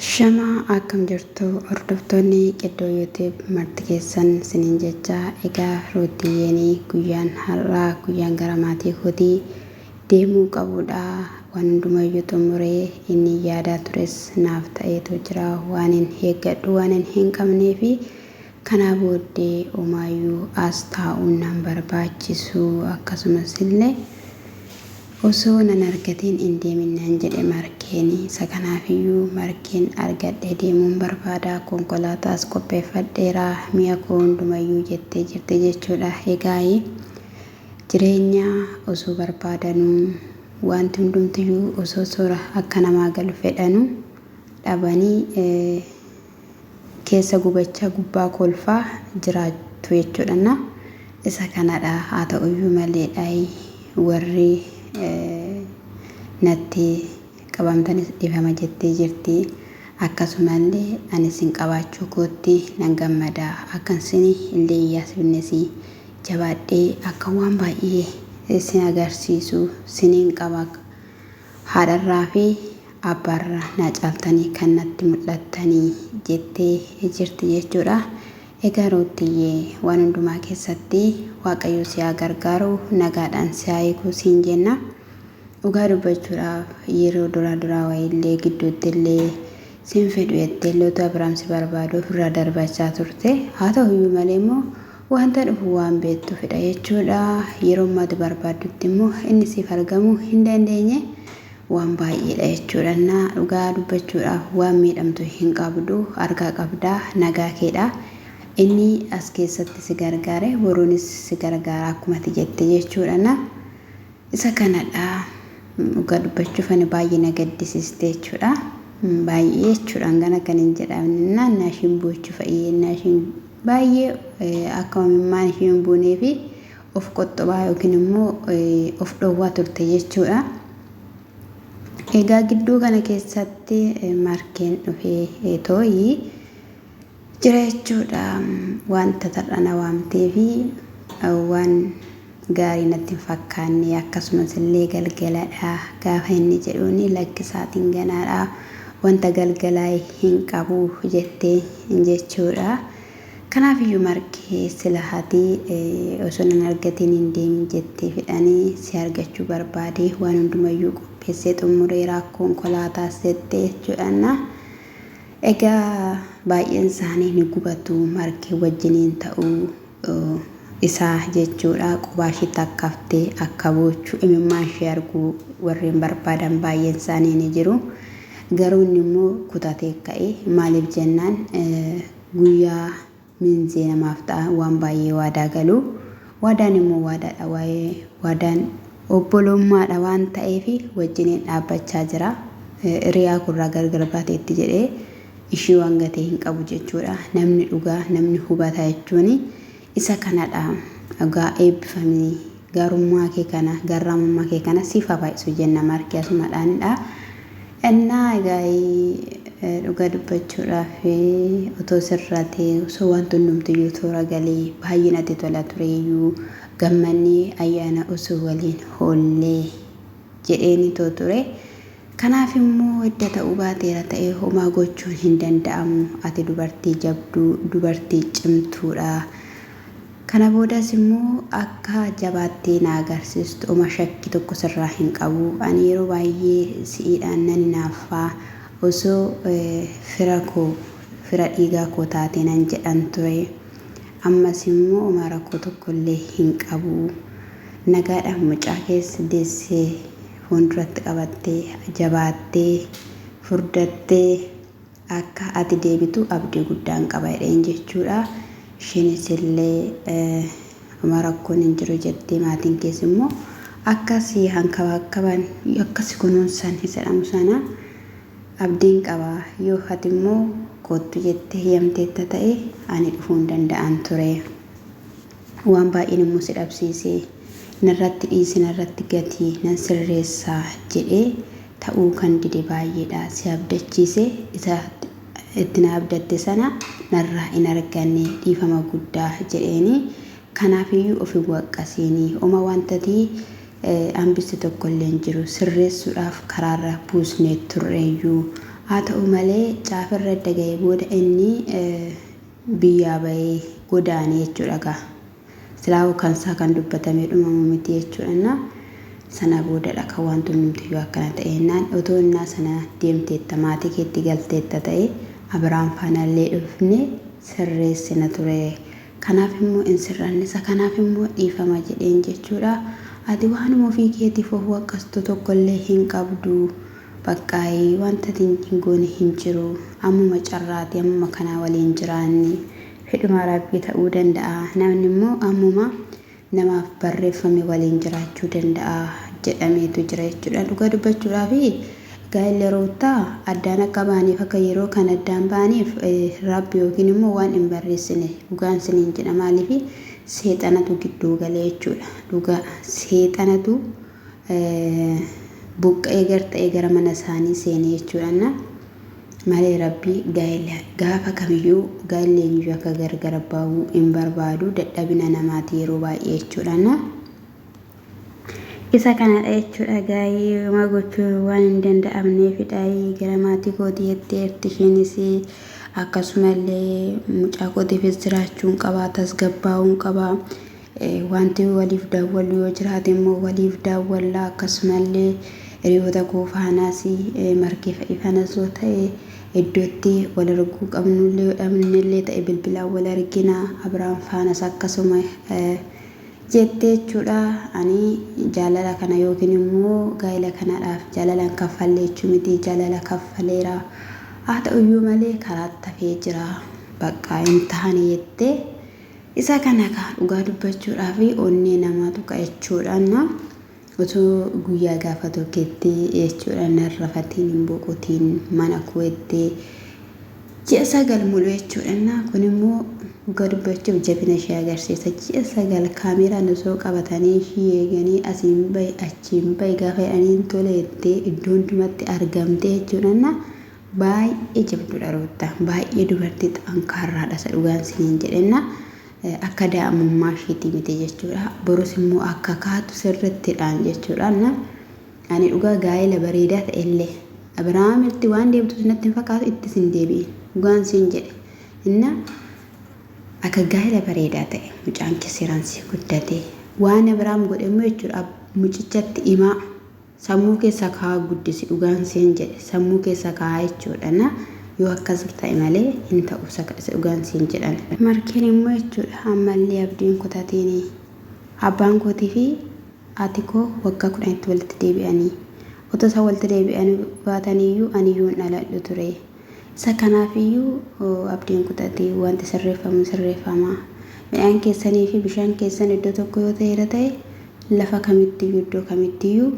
Ashama akkam jirtu hordoftoonni qiddoo youtube marti keessan sinin jecha egaa ruutiyyeeni guyyaan har'aa guyyaan gara maatii kootii deemuu qabuudha waan hundumayyuu xumuree inni yaadaa tures naaf ta'eetu jira waanin eeggadhu waanin hin qabnee fi Kanaa booddee omaayyuu as taa'uun nan barbaachisu akkasumas illee osoo nan argatiin hin deemin nan jedhe Markeen. Isa kanaaf iyyuu Markeen argadhee deemuun barbaada, konkolaataas qopheeffadheera, mi'a koo hunduma iyyuu jettee jirti jechuu dha. Egaayi jireenya osoo barbaadanuu waanti hundumti iyyuu osoo sora akka namaa galu fedhanuu dhabanii, keessa gubachaa gubbaa kolfaa jiraattu jechuudhanna isa kanadha haa ta'uyyuu malee dhayi warri natti qabamtanis dhifama jettee jirti akkasumallee ani sin qabaachuu kootti nan gammada akkan sin illee hin yaasifnesi jabaadhee akka waan baay'ee sin agarsiisu sinin qaba Haadharraa fi abbaarra naa caaltanii kan natti mul'attanii jettee jirti jechuudha. Egaa Ruuttiyyee waan hundumaa keessatti Waaqayyoo si haa gargaaru nagaadhaan si haa hiiku siin jenna. Dhugaa dubbachuudhaaf yeroo duraa duraa wayiillee gidduutti illee sin fedhu jettee illee utuu Abiraam si barbaadu ofirraa darbachaa turte. Haa ta'uyyuu malee immoo Wanta dhufu waan beektuufidha jechuudha. Yeromma ati barbaaddutti immoo inni siif argamuu hin dandeenye waan baay'eedha jechuudha. Innaa dhugaa dubbachuudhaaf waan miidhamtu hin qabdu, argaa qabda, nagaa keedha. Inni as keessatti si gargaare boruunis si gargaara akkuma ati jette jechuudha. Isa kanadha dhugaa dubbachuuf ani baay'ee na gaddisiiste jechuudha. Baay'ee jechuudha hangana kan hin jedhamne naannaa ishiin boochu fa'i naannaa ishiin baay'ee akka imimmaan ishii hin buunee fi of qoxxobaa yookiin immoo of dhoowwaa turte jechuudha. Egaa gidduu kana keessatti markeen dhufee too'ii Jira jechuudha. Wanta tarra na waamtee fi waan gaarii natti hin fakkaanne akkasumas illee galgaladha gaafa inni jedhuun lakki saatiin ganaadha wanta galgalaa hin qabu jette jechuudha. Kanaaf iyyuu markee sila hati osoo nan argatiin hin deemin jettee fidhani si argachuu barbaade waan hundumayyuu qopheessee xummureera konkolaataas jette jechuudhaan Egaa baay'een isaanii ni gubatu, margee wajjiniin ta'uu isaa jechuudha. Qubaa ishii takka haftee akka boochu imimmaan ishee arguu warreen barbaadan baay'een isaanii ni jiru. Garuu inni immoo kutatee ka'e. Maaliif jennaan guyyaa Miinzee namaaf ta'a waan baay'ee waadaa galu. Waadaan immoo waadaadha waa'ee waadaan obboloommaadha waan ta'eef wajjiniin dhaabbachaa jira. Hiriyaa koorraa gargar baateetti jedhee ishii waan gatee hin qabu jechuudha. Namni dhugaa namni hubataa jechuun isa kanadha. Dhugaa eebbifamii. Garummaa kee kana, garraamummaa kee kana siif haa baay'isu jenna marki asumadhaan dha. Ennaa egaa dhugaa dubbachuudhaaf otoo sirraa ta'e osoo wanti hundumtiyyuu toora galee baay'ee natti tola tureeyyuu gammannee ayyaana osoo waliin hoollee jedheeni too ture. Kanaaf immoo edda ta'uu baateera ta'ee homaa gochuun hin danda'amu ati dubartii jabduu dubartii cimtuudha. Kana boodas immoo akka jabaattee na agarsiistu oma shakki tokko sirraa hin qabu. Ani yeroo baay'ee si'iidhaan nan hinaaffa. Osoo fira koo, fira dhiigaa koo taatee nan jedhan ture. Ammas immoo omaa rakkoo tokko illee hin qabu. Nagaadhaan mucaa kees deessee fuunduratti qabattee, jabaattee, furdattee. Akka ati deebitu abdii guddaan qaba jedheen jechuudha. Isheenis illee Homa rakkoon hin jiru jettee maatiin kees immoo akka si hankabaakkaban akka si kunuunsan isa jedhamu sana abdiin qaba yoo ati immoo koottu jettee hiyamteetta ta'e ani dhufuu hin danda'an ture. Waan baay'een immoo si dhabsiise. Narratti dhiisi, narratti gati, nan sirreessa jedhee ta'uu kan dide baay'eedha. Si abdachiise, isa itti na abdatte sana narraa hin arganne, dhiifama guddaa jedheeni. Kanaafiyyuu of hin waqqasiini. Oma wantati hambiste tokkollee hin jiru. Sirreessuudhaaf karaarra buusnee turreeyyuu. Haa ta'u malee caafirra edda ga'ee booda inni biyyaa bahee godaane jechuudha gaa silaahuu kansaa kan dubbatamee dhumamu miti jechuudha innaa sana boodadha kan waanti hundumtiyyuu akkana ta'e innaan otoo innaa sana deemteetta maatii keetti galteetta ta'e Abiraam faana illee dhufnee sirreessina ture kanaaf immoo hin sirranne isa kanaaf immoo dhiifama jedheen jechuudha ati waanuma ofii keetiif of waqqastu tokko illee hin qabdu Baqqaayi wanta ati hin goone hin jiru ammuma carraati ammuma kanaa waliin jiraanni fedhuma rabbii ta'uu danda'a namni immoo ammuma namaaf barreeffame waliin jiraachuu danda'a jedhameetu jira jechuudha dhugaa dubbachuudhaaf gaa'illi ruuttaa addaan akka ba'aniif akka yeroo kan addaan ba'aniif rabbi yookiin immoo waan hin barreessine dhugaan siniin jedha maaliif seexanatu gidduu gale jechuudha dhugaa seexanatu buqqa'ee gar ta'ee gara mana isaanii seenee jechuudhaan malee rabbii gaa'ela gaafa kamiyyuu gaa'elli eenyuyyuu akka gargara ba'uu hin barbaadu dadhabina namaati yeroo baay'ee jechuudhaan isa kanadha jechuudha gaa'ee homaa gochuun waan hin danda'amneefidha gara maatii kootii jetteerti isheenis akkasumallee mucaa kootiifis jiraachuun qabaa tasgabbaa'uun qabaa Wanti waliif daawwannu yoo jiraate immoo waliif daawwanna. Akkasumallee hiriyoota koo faanaas margee fa'ii fanas yoo ta'e iddootti wal arguu qabnullee yoo dhabnellee ta'e bilbilaan wal argina. Abiraam faanas akkasuma jette jechuudha. Ani jaalala kana yookiin immoo gaa'ila kanadhaaf jaalalaan kaffalle jechuu miti jaalala kaffaleera. Haa ta'uyyuu malee karaatti hafee jira. Baqqaa hin taane jettee. Isa kana kaa dhugaa dubbachuudhaaf onnee namaa tuqa jechuudha na otoo guyyaa gaafa tokketti jechuudha nan rafatiin hin boqotiin mana kuwettee ji'a sagal mulu jechuudha na kun immoo dhugaa dubbachuuf jabina ishee agarsiisa ji'a sagal kaameeraan osoo qabatanii ishii eeganii asiin bahi achiin bahi gaafa jedhaniin tole jettee iddoo hundumatti argamtee jechuudha na Baay'ee jabdudha Ruutta baay'ee dubartii xankaarraadha isa dhugaan siniin jedhenna akka daa'imummaa ishiitii miti jechuudha borus immoo akka kaatu sirrittidhaan jechuudha na ani dhugaa gaa'ela bareedaa ta'ellee Abiraamitti waan deebitu sinatti hin fakkaatu ittis hin deebi'in dhugaan siin jedhe inna akka gaa'ela bareedaa ta'e mucaan kee seeraan sii guddatee waan Abiraam godhe immoo jechuudha mucichatti imaa Sammuu keessa kaa'aa guddisi dhugaan siin jedhe sammuu keessa kaa'aa jechuudha na yoo akkas ta'e malee hin ta'u saka'si dhugaan siin jedhame. Markeen immoo jechuudha ammallee abdii hin kutatinii abbaan kootii fi haati koo waggaa kudhanitti walitti deebi'anii otoo isaan walitti deebi'anii baataniyyuu aniyyuu hin dhaladhu ture Isa kanaaf iyyuu abdiin kutati, wanti sirreeffamu sirreeffama. Midhaan keessanii fi bishaan keessan iddoo tokko yoo ta'eera ta'e, lafa kamitti iyyuu, iddoo kamitti iyyuu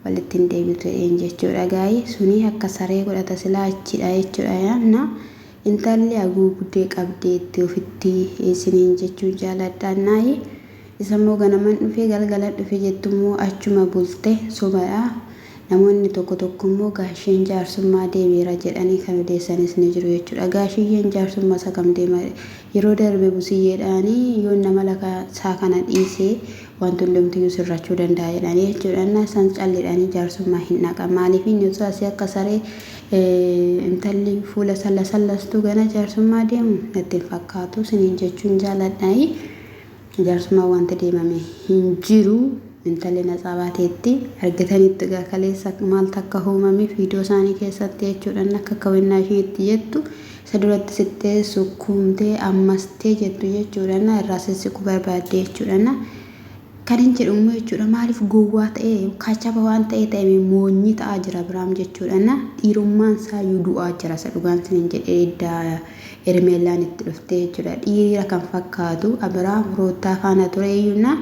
walitti hin deebitu jedheen jechuu dha. Gaayi suni akka saree godhata silaa achi dha jechuu dha yaanna. Intalli haguugdee qabdeetti ofitti isiniin jechuu jaaladha. Naayi isa immoo ganaman dhufe, galgalan dhufe jettu immoo achuma bulte. Soba dha. Namoonni tokko tokko immoo gaasheen jaarsummaa deemeera jedhanii kan odeessanis ni jiru jechuudha. Gaashiyyeen jaarsumma isa kam deema? Yeroo darbe busiyyeedhaan yoon namala isaa kana dhiise wanti hundumtiyyuu sirrachuu danda'a jedhanii jechuudha. Innaa isaan callidhanii jaarsummaa hin dhaqan. Maaliif inni osoo asii akka saree intalli fuula salla sallastuu gana jaarsummaa deemu natti hin fakkaatu siniin jechuun jaaladha. Jaarsummaan waanti deemame hin jiru intalli natsaa baateetti argitaniittu egaa kaleessa maaltu akka huumame fiidoo isaanii keessatti jechuudhaan akka akka wennaa ishiin itti jettu isa duratti sittee sukkuumtee ammastee jettu jechuudhaan irraa sissiqu barbaadde jechuudhaan kan hin jedhu immoo jechuudha maaliif gowwaa ta'ee kaachaba waan ta'ee ta'e moonyi ta'aa jira biraam jechuudhaan dhiirummaan isaa iyyuu du'aa jira isa dhugaan sinin jedhee iddaa Hermeellaan itti dhuftee jechuudha. Dhiira kan fakkaatu Abiraam Ruuttaa faana ture iyyuuna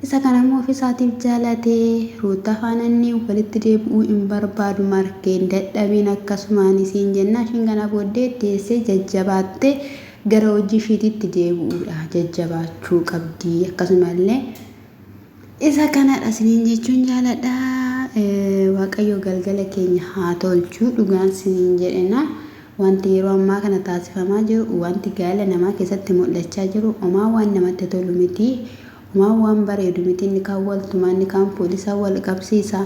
isa kana immoo ofisaatiif jaalatee Ruuttaa faana inni walitti deebi'uu hin barbaadu markeen dadhabiin akkasumaan isiin jennaa ishiin kanaa booddee deessee jajjabaattee gara hojii ishiitiitti deebi'uudha jajjabaachuu qabdii akkasumallee Isa kanadha isiniin jechuun jaaladha. Waaqayyo galgala keenya haa tolchu dhugaan isiniin jedhena. Wanti yeroo ammaa kana taasifamaa jiru, wanti gaa'ela namaa keessatti mul'achaa jiru omaa waan namatti tolu miti. Omaa waan bareedu miti. Inni kaan wal tumaa, inni kaan poolisaa wal qabsiisa,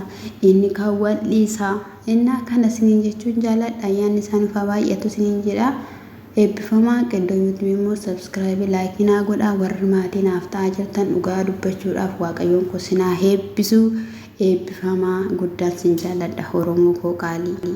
inni kaan wal dhiisa. Innaa kana isiniin jechuun jaaladha. Ayyaanni isaa nuuf haa baay'atu isiniin jedha. Eebbifamaa Qeddoo YouTube immoo subscribe like naa godhaa warri maatii naaf ta'aa jirtan dhugaa dubbachuudhaaf waaqayyoon koo sinaa heebbisu eebbifamaa guddaan sin jaalladha oromoo koo qaalii.